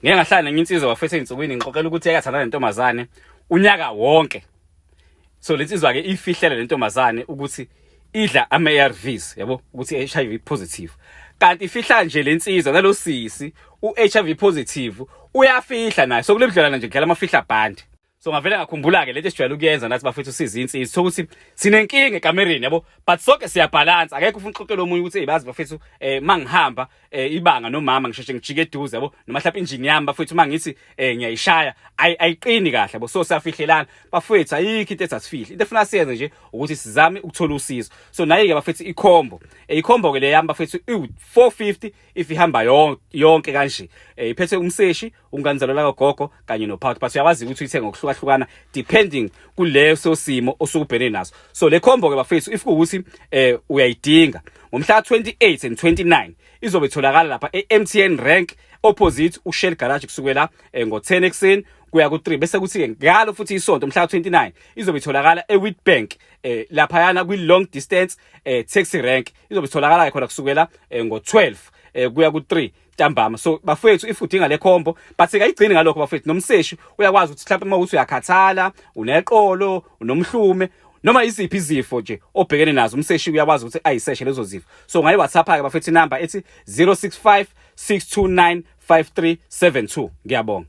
ngeke ngahlala nenye insizwa bafethu ezinsukwini ngixoxela ukuthi eyathandana nentombazane unyaka wonke so lensizwa ke ifihlele lentombazane ukuthi idla ama ARVs yabo ukuthi HIV positive kanti ifihla nje lensizwa nalosisi uHIV positive uyafihla naye so kulebudlelana nje ngidlala amafihla band so ngavele ngakhumbula ke lento esijwayele ukuyenza nathi bafethu siza insizwa sithola ukuthi sinenkinga ekamereni yabo but sonke siyabhalansa akekho ufuna uxoxela omunye ukuthi eyibazi bafethu eh mangihamba eh, ibanga nomama ngisheshe ngijike eduze yabo noma mhlawumbe injini yami bafethu mangithi eh, ngiyayishaya ayiqini kahle yabo so siyafihlelana bafethu ayikho into esasifihle into efuna siyenze nje ukuthi sizame ukuthola usizo so naye ke bafethu ikhombo eh, ikhombo ke le yami bafethu 450 if ihamba yonke kanje eh, iphethe umseshi unganizalelwa kagogo kanye nophathi but uyawazi ukuthi uyithenga ngokuhlukahlukana depending kuleso simo osukubhene naso so le combo ke bafethu if kuwukuthi eh uyayidinga ngomhla 28 and 29 izobe itholakala lapha eMTN Rank opposite uShell Garage kusukela eh, ngo10 ekseni kuya ku3 bese kuthi ke ngalo futhi isonto mhla 29 izobe itholakala eWitbank eh lapha yana kwi long distance eh taxi rank izobe itholakala khona kusukela eh, ngo12 eh, kuya ku3 ntambama so bafowethu if udinga le combo but sikayigcini ngalokho bafowethu nomseshi uyakwazi ukuthi mhlawumbe uma ukuthi uyakhathala uneqolo unomhlume noma iziphi izifo nje obhekene nazo umseshi uyakwazi ukuthi ayiseshe lezo zifo so ngayi WhatsApp ke bafethu number ethi 0656295372 ngiyabonga